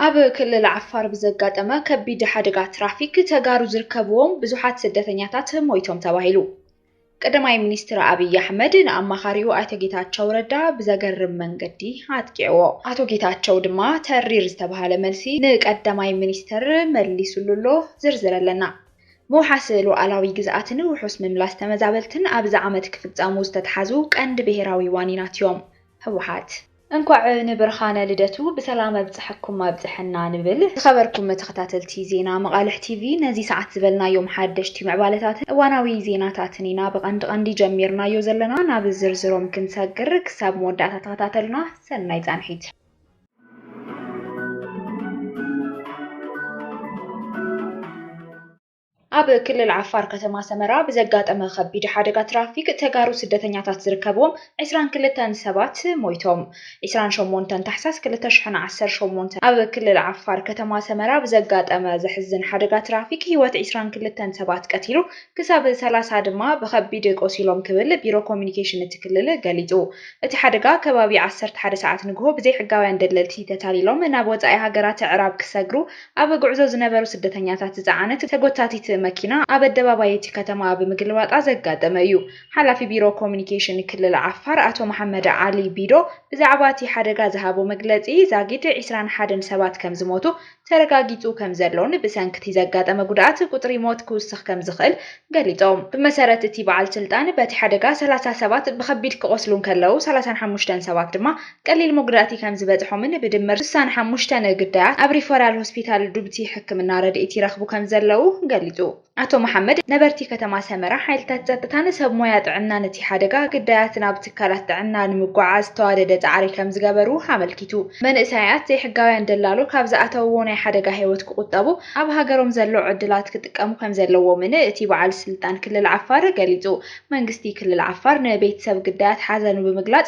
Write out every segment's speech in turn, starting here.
ኣብ ክልል ዓፋር ብዘጋጠመ ከቢድ ሓደጋ ትራፊክ ተጋሩ ዝርከብዎም ብዙሓት ስደተኛታት ሞይቶም ተባሂሉ። ቀዳማይ ሚኒስትር ኣብይ ኣሕመድ ንኣማኻሪኡ ኣይተ ጌታቸው ረዳ ብዘገርም መንገዲ ኣጥቂዕዎ። ኣቶ ጌታቸው ድማ ተሪር ዝተብሃለ መልሲ ንቀዳማይ ሚኒስትር መሊስሉ ኣሎ። ዝርዝር ኣለና። ምውሓስ ሉኣላዊ ግዝኣትን ውሑስ ምምላስ ተመዛበልትን ኣብዚ ዓመት ክፍፀሙ ዝተትሓዙ ቀንዲ ብሄራዊ ዋኒናት እዮም ህወሓት። እንኳዕ ንብርኻነ ልደቱ ብሰላም ኣብፀሐኩም ኣብፀሐና ንብል። ዝኸበርኩም ተኸታተልቲ ዜና መቓልሕ ቲቪ ነዚ ሰዓት ዝበልናዮም ሓደሽቲ ምዕባለታትን እዋናዊ ዜናታትን ኢና ብቐንዲ ቐንዲ ጀሚርናዮ ዘለና። ናብ ዝርዝሮም ክንሰግር ክሳብ መወዳእታ ተኸታተሉና። ሰናይ ፃንሒት። ኣብ ክልል ዓፋር ከተማ ሰመራ ብዘጋጠመ ከቢድ ሓደጋ ትራፊክ ተጋሩ ስደተኛታት ዝርከብዎም ዕስራን ክልተን ሰባት ሞይቶም። ዕስራን ሸሞንተን ታሕሳስ ክልተ ሽሕን ዓሰርተ ሸሞንተን ኣብ ክልል ዓፋር ከተማ ሰመራ ብዘጋጠመ ዘሕዝን ሓደጋ ትራፊክ ህይወት ዕስራን ክልተን ሰባት ቀቲሉ ክሳብ ሰላሳ ድማ ብከቢድ ቆሲሎም ክብል ቢሮ ኮሚኒኬሽን እቲ ክልል ገሊፁ። እቲ ሓደጋ ከባቢ ዓሰርተ ሓደ ሰዓት ንግሆ ብዘይሕጋውያን ደለልቲ ተታሊሎም ናብ ወፃኢ ሃገራት ኣዕራብ ክሰግሩ ኣብ ጉዕዞ ዝነበሩ ስደተኛታት ዝጸዓነት ተጎታቲት መኪና ኣብ ኣደባባይ እቲ ከተማ ብምግልባጣ ዘጋጠመ እዩ። ሓላፊ ቢሮ ኮሙዩኒኬሽን ክልል ዓፋር ኣቶ መሓመድ ዓሊ ቢዶ ብዛዕባ እቲ ሓደጋ ዝሃቦ መግለጺ፣ ዛጊድ ዕስራን ሓደን ሰባት ከምዝሞቱ ተረጋጊጹ ከምዘሎን ብሰንኪ እቲ ዘጋጠመ ጉድኣት ቁጽሪ ሞት ክውስኽ ከምዝኽእል ገሊጾም። ብመሰረት እቲ በዓል ስልጣን፣ በቲ ሓደጋ ሰላሳ ሰባት ብኸቢድ ክቖስሉ እንከለዉ፣ ሰላሳን ሓሙሽተን ሰባት ድማ ቀሊል መጉዳእቲ ከም ዝበጽሖምን ብድምር ስሳ ንሓሙሽተ ግዳያት ኣብ ሪፈራል ሆስፒታል ዱብቲ ሕክምና ረድኤት ይረኽቡ ከም ዘለዉ ገሊጹ። ኣቶ መሓመድ፣ ነበርቲ ከተማ ሰመራ ሓይልታት ጸጥታን ሰብ ሞያ ጥዕናን እቲ ሓደጋ ግዳያት ናብ ትካላት ጥዕና ንምጉዕዓዝ ዝተዋደደ ጻዕሪ ከም ዝገበሩ ኣመልኪቱ። መንእሰያት ዘይሕጋውያን ደላሎ ካብ ዝኣተውዎ ናይ ሓደጋ ህይወት ክቑጠቡ ኣብ ሃገሮም ዘሎ ዕድላት ክጥቀሙ ከም ዘለዎምን እቲ በዓል ስልጣን ክልል ዓፋር ገሊጹ። መንግስቲ ክልል ዓፋር ንቤትሰብ ግዳያት ሓዘኑ ብምግላጽ፣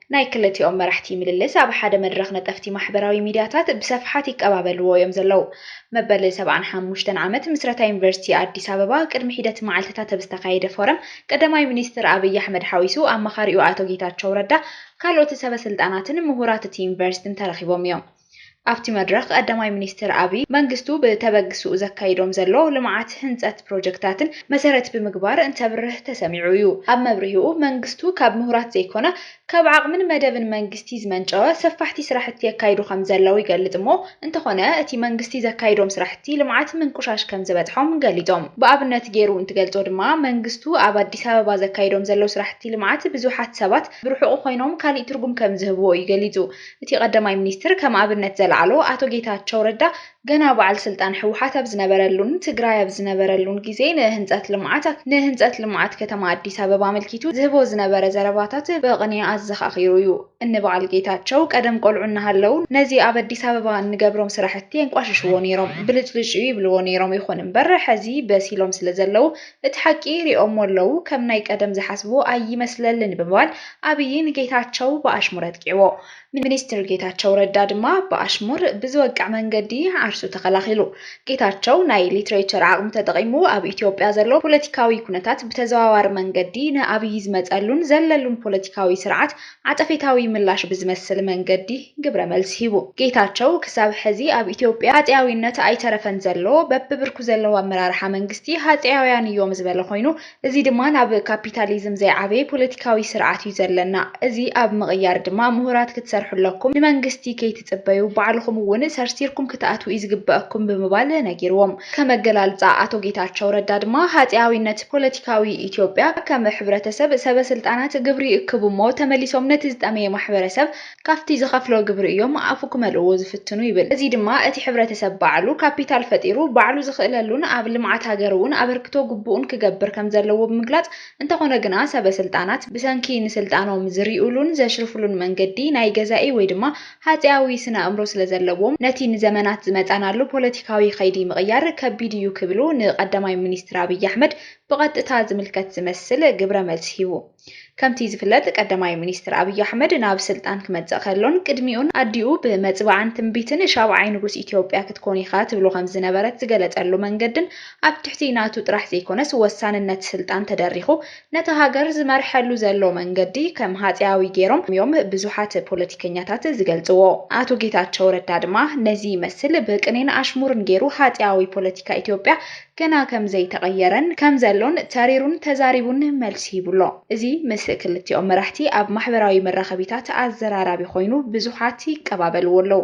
ናይ ክልቲኦም መራሕቲ ምልልስ ኣብ ሓደ መድረኽ ነጠፍቲ ማሕበራዊ ሚድያታት ብሰፍሓት ይቀባበልዎ እዮም ዘለዉ። መበል ሰብዓን ሓሙሽተን ዓመት ምስረታ ዩኒቨርሲቲ ኣዲስ ኣበባ ቅድሚ ሒደት መዓልትታት ኣብ ዝተኻየደ ፎረም ቀዳማይ ሚኒስትር ኣብይ ኣሕመድ ሓዊሱ ኣማኻሪኡ ኣቶ ጌታቸው ረዳ ካልኦት ሰበስልጣናትን ምሁራት እቲ ዩኒቨርሲቲን ተረኺቦም እዮም። ኣብቲ መድረኽ ቀዳማይ ሚኒስትር ኣቢይ፣ መንግስቱ ብተበግስኡ ዘካይዶም ዘሎ ልምዓት ህንፀት ፕሮጀክታትን መሰረት ብምግባር እንተብርህ ተሰሚዑ እዩ። ኣብ መብርሂኡ፣ መንግስቱ ካብ ምሁራት ዘይኮነ ካብ ዓቕምን መደብን መንግስቲ ዝመንጨወ ሰፋሕቲ ስራሕቲ የካይዱ ከምዘለው ይገልፅ እሞ እንተኾነ እቲ መንግስቲ ዘካይዶም ስራሕቲ ልምዓት ምንቁሻሽ ከምዝበፅሖም ገሊፆም። ብኣብነት ገይሩ እንትገልፆ ድማ መንግስቱ ኣብ ኣዲስ ኣበባ ዘካይዶም ዘለው ስራሕቲ ልምዓት ብዙሓት ሰባት ብርሑቑ ኮይኖም ካሊእ ትርጉም ከምዝህብዎ እዩ ገሊፁ። እቲ ቀዳማይ ሚኒስትር ከም ኣብነት ዘልዓሎ ኣቶ ጌታቸው ረዳ ገና በዓል ስልጣን ህወሓት ኣብ ዝነበረሉን ትግራይ ኣብ ዝነበረሉን ግዜ ንህንፀት ልምዓት ንህንፀት ልምዓት ከተማ ኣዲስ ኣበባ ኣመልኪቱ ዝህቦ ዝነበረ ዘረባታት ብቕኔ ኣዘኻኺሩ እዩ። እኒ በዓል ጌታቸው ቀደም ቆልዑ እናሃለው ነዚ ኣብ ኣዲስ ኣበባ እንገብሮም ስራሕቲ የንቋሽሽዎ ነይሮም፣ ብልጭልጭ'ዩ ይብልዎ ነይሮም፣ ይኹን እምበር ሕዚ በሲሎም ስለዘለው እቲ ሓቂ ሪኦሞ ኣለው ከም ናይ ቀደም ዝሓስቡ ኣይመስለልን ብምባል ኣብይ ንጌታቸው ብኣሽሙር ኣጥቂዕዎ። ሚኒስትር ጌታቸው ረዳ ድማ ብኣሽሙር ብዝወቅዕ መንገዲ ዓርሱ ተኸላኺሉ። ጌታቸው ናይ ሊትሬቸር ዓቕሙ ተጠቒሙ ኣብ ኢትዮጵያ ዘሎ ፖለቲካዊ ኩነታት ብተዘዋዋሪ መንገዲ ንኣብይ ዝመፀሉን ዘለሉን ፖለቲካዊ ስርዓት ዓጸፌታዊ ምላሽ ብዝመስል መንገዲ ግብረ መልሲ ሂቡ። ጌታቸው ክሳብ ሕዚ ኣብ ኢትዮጵያ ሃጸያዊነት ኣይተረፈን ዘሎ፣ በብብርኩ ዘለዉ ኣመራርሓ መንግስቲ ሃጸያውያን እዮም ዝበለ ኮይኑ፣ እዚ ድማ ናብ ካፒታሊዝም ዘይዓበየ ፖለቲካዊ ስርዓት እዩ ዘለና፣ እዚ ኣብ ምቕያር ድማ ምሁራት ክትሰርሑ ኣለኩም፣ ንመንግስቲ ጽበዩ ባዕልኹም እውን ሰርሲርኩም ክትኣትዉ እዩ ዝግበኣኩም ብምባል ነጊርዎም። ከም ኣገላልጻ ኣቶ ጌታቸው ረዳ ድማ ሃጼያዊነት ፖለቲካዊ ኢትዮጵያ ከም ሕብረተሰብ ሰበ ስልጣናት ግብሪ ይእክቡ እሞ ተመሊሶም ነቲ ዝጠመየ ማሕበረሰብ ካብቲ ዝኸፍሎ ግብሪ እዮም ኣፉ ክመልእዎ ዝፍትኑ ይብል። እዚ ድማ እቲ ሕብረተሰብ ባዕሉ ካፒታል ፈጢሩ ባዕሉ ዝኽእለሉን ኣብ ልምዓት ሃገር እውን ኣበርክቶ ግቡኡን ክገብር ከም ዘለዎ ብምግላጽ እንተኾነ ግና ሰበ ስልጣናት ብሰንኪ ንስልጣኖም ዝሪኡሉን ዘሽርፉሉን መንገዲ ናይ ገዛኢ ወይ ድማ ሃጼያዊ ስነ ኣእምሮ ስለ ዘለዎም ነቲ ንዘመናት ዝመፃናሉ ፖለቲካዊ ኸይዲ ምቕያር ከቢድ እዩ ክብሉ ንቀዳማይ ሚኒስትር ኣብይ ኣሕመድ ብቐጥታ ዝምልከት ዝመስል ግብረ መልሲ ሂቡ። ከምቲ ዝፍለጥ ቀዳማይ ሚኒስትር ኣብይ ኣሕመድ ናብ ስልጣን ክመፅእ ከሎን ቅድሚኡን ኣዲኡ ብመፅብዓን ትንቢትን ሻብዓይ ንጉስ ኢትዮጵያ ክትኮን ኢኻ ትብሎ ከም ዝነበረት ዝገለፀሉ መንገድን ኣብ ትሕቲ ናቱ ጥራሕ ዘይኮነስ ወሳንነት ስልጣን ተደሪኹ ነታ ሃገር ዝመርሐሉ ዘሎ መንገዲ ከም ሃጼያዊ ገይሮም ዮም ብዙሓት ፖለቲከኛታት ዝገልጽዎ። ኣቶ ጌታቸው ረዳ ድማ ነዚ ይመስል ብቅኔን ኣሽሙርን ገይሩ ሃጼያዊ ፖለቲካ ኢትዮጵያ ገና ከም ዘይተቐየረን ከም ዘሎን ተሪሩን ተዛሪቡን መልሲ ሂቡ ኣሎ። እዚ ምስ ክልቲኦም መራሕቲ ኣብ ማሕበራዊ መራኸቢታት ኣዘራራቢ ኮይኑ ብዙሓት ይቀባበልዎ ኣለዉ።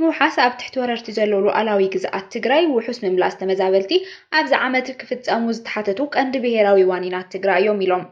ምውሓስ ኣብ ትሕቲ ወረርቲ ዘሎ ሉኣላዊ ግዝኣት ትግራይ፣ ውሑስ ምምላስ ተመዛበልቲ፣ ኣብዚ ዓመት ክፍፀሙ ዝተሓተቱ ቀንዲ ብሄራዊ ዋኒናት ትግራይ እዮም ኢሎም።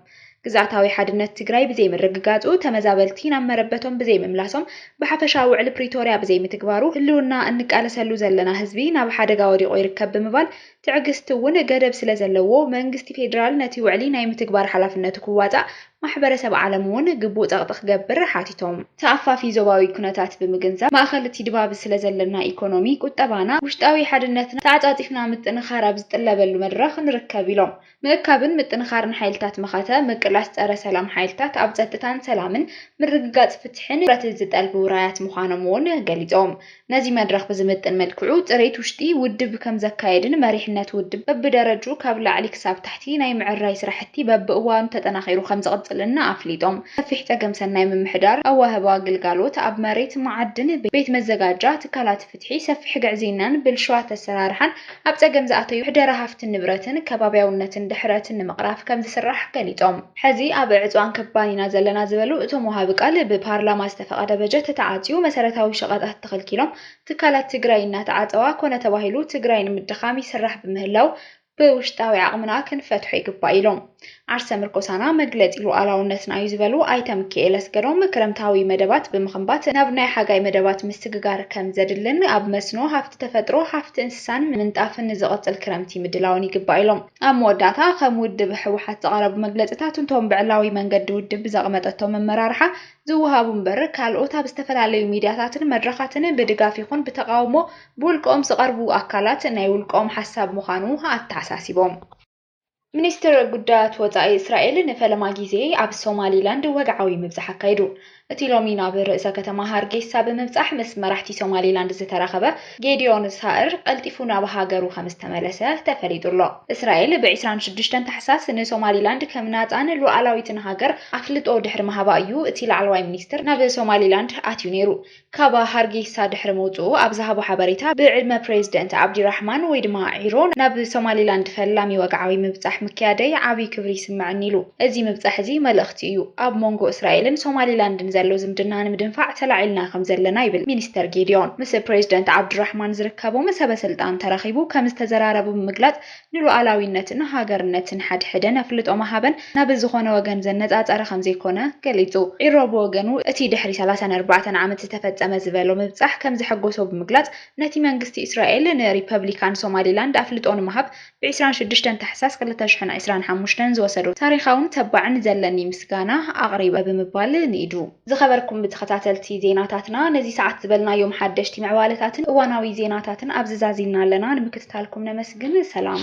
ግዝኣታዊ ሓድነት ትግራይ ብዘይምርግጋፁ፣ ተመዛበልቲ ናብ መረበቶም ብዘይምምላሶም፣ ብሓፈሻ ውዕሊ ፕሪቶርያ ብዘይምትግባሩ ህልውና እንቃለሰሉ ዘለና ህዝቢ ናብ ሓደጋ ወዲቑ ይርከብ ብምባል ትዕግስቲ እውን ገደብ ስለዘለዎ መንግስቲ ፌዴራል ነቲ ውዕሊ ናይ ምትግባር ሓላፍነቱ ክዋፃእ ማሕበረሰብ ዓለም እውን ግቡእ ፀቕጢ ክገብር ሓቲቶም። ተኣፋፊ ዞባዊ ኩነታት ብምግንዛብ ማእኸል እቲ ድባብ ስለዘለና ኢኮኖሚ፣ ቁጠባና፣ ውሽጣዊ ሓድነትና ተዓፃፂፍና ምጥንኻር ኣብ ዝጥለበሉ መድረኽ ንርከብ ኢሎም። ምእካብን ምጥንኻርን ሓይልታት መኸተ፣ ምቅላስ ፀረ ሰላም ሓይልታት፣ ኣብ ፀጥታን ሰላምን፣ ምርግጋፅ ፍትሒን ትኹረት ዝጠልብ ውራያት ምዃኖም እውን ገሊፆም። ነዚ መድረኽ ብዝምጥን መልክዑ ፅሬት ውሽጢ ውድብ ከምዘካየድን መሪሕነት ውድብ በቢደረጅኡ ካብ ላዕሊ ክሳብ ታሕቲ ናይ ምዕራይ ስራሕቲ በቢእዋኑ ተጠናኺሩ ከምዝቕፅልን ኣፍሊጦም። ሰፊሕ ፀገም ሰናይ ምምሕዳር፣ ኣዋህባ ግልጋሎት ኣብ መሬት፣ መዓድን፣ ቤት መዘጋጃ፣ ትካላት፣ ፍትሒ፣ ሰፊሕ ግዕዝይናን ብልሹዋት ኣሰራርሓን ኣብ ፀገም ዝኣተዩ ምሕደራ ሃፍትን ንብረትን፣ ከባብያውነትን ድሕረትን ንምቕራፍ ከምዝስራሕ ገሊፆም። ሕዚ ኣብ ዕፅዋን ክባን ኢና ዘለና ዝበሉ እቶም ወሃቢ ቃል፣ ብፓርላማ ዝተፈቐደ በጀት ተዓፅዩ መሰረታዊ ሸቐጣት ተኸልኪሎም ትካላት ትግራይ እናተዓፀዋ ኮነ ተባሂሉ ትግራይ ንምድኻም ይስራሕ ብምህላዉ ብውሽጣዊ ዓቕምና ክንፈትሖ ይግባእ ኢሎም። ዓርሰ ምርኮሳና መግለፂ ሉኣላውነትና ዩ ዝበሉ ኣይተ ምኪኤል ኣስገዶም፣ ክረምታዊ መደባት ብምኽንባት ናብ ናይ ሓጋይ መደባት ምስግጋር ከምዘድልን ኣብ መስኖ፣ ሃፍቲ ተፈጥሮ፣ ሃፍቲ እንስሳን ምንጣፍን ንዝቕፅል ክረምቲ ምድላው ን ይግባእ ኢሎም። ኣብ መወዳእታ ከም ውድብ ህወሓት ዝቐረቡ መግለፅታት እንቶም ብዕላዊ መንገዲ ውድብ ብዘቕመጠቶ መመራርሓ ዝወሃቡ እምበር ካልኦት ኣብ ዝተፈላለዩ ሚድያታትን መድረኻትን ብድጋፍ ይኹን ብተቓውሞ ብውልቀኦም ዝቐርቡ ኣካላት ናይ ውልቀኦም ሓሳብ ምዃኑ ኣተሓሳሲቦም። ሚኒስትር ጉዳያት ወጻኢ እስራኤል ንፈለማ ግዜ ኣብ ሶማሊላንድ ወግዓዊ ምብጻሕ ኣካይዱ። እቲ ሎሚ ናብ ርእሰ ከተማ ሃርጌሳ ብምብጻሕ ምስ መራሕቲ ሶማሊላንድ ዝተራኸበ ጌድዮን ሳእር ቀልጢፉ ናብ ሃገሩ ከም ዝተመለሰ ተፈሊጡ ኣሎ። እስራኤል ብ ዕስራን ሽዱሽተን ታሕሳስ ንሶማሊላንድ ከም ናጻን ሉኣላዊትን ሃገር ኣፍልጦ ድሕሪ ምሃባ እዩ እቲ ላዕለዋይ ሚኒስትር ናብ ሶማሊላንድ ኣትዩ ነይሩ። ካብ ሃርጌሳ ድሕሪ ምውጽኡ ኣብ ዝሃቦ ሓበሬታ ብ ዕድመ ፕረዚደንት ዓብዲራሕማን ወይ ድማ ዒሮ ናብ ሶማሊላንድ ፈላሚ ወግዓዊ ምብጻሕ ምክያደይ ዓቢ ክብሪ ይስመዐኒ ኢሉ። እዚ ምብጻሕ እዚ መልእኽቲ። መሰረት እዩ፣ ኣብ ሞንጎ እስራኤልን ሶማሊላንድን ዘሎ ዝምድና ንምድንፋዕ ተላዒልና ከምዘለና ይብል ሚኒስተር ጌዲዮን ምስ ፕሬዚደንት ዓብዱራሕማን ዝርከቦም ሰበስልጣን ተራኺቡ ከምዝተዘራረቡ ብምግላፅ ንሉኣላዊነትን ሃገርነትን ሓድሕደን ኣፍልጦ ምሃበን ናብ ዝኾነ ወገን ዘነፃፀረ ከምዘይኮነ ገሊፁ። ዒሮ ብወገኑ እቲ ድሕሪ ሰላሳን ኣርባዕተን ዓመት ዝተፈፀመ ዝበሎ ምብፃሕ ከምዘሐጎሶ ብምግላፅ ነቲ መንግስቲ እስራኤል ንሪፐብሊካን ሶማሊላንድ ኣፍልጦ ንምሃብ ብ ዕስራን ሽዱሽተን ታሕሳስ ክልተ ሽሕን ዕስራን ሓሙሽተን ዝወሰዶ ታሪኻውን ተባዕን ዘለኒ ምስጋና ኣቕሪበ ብምባል ንኢዱ። ዝኸበርኩም ተኸታተልቲ ዜናታትና ነዚ ሰዓት ዝበልናዮም ሓደሽቲ ምዕባለታትን እዋናዊ ዜናታትን ኣብዚ ዛዚምና ኣለና ንምክትታልኩም ነመስግን ሰላም።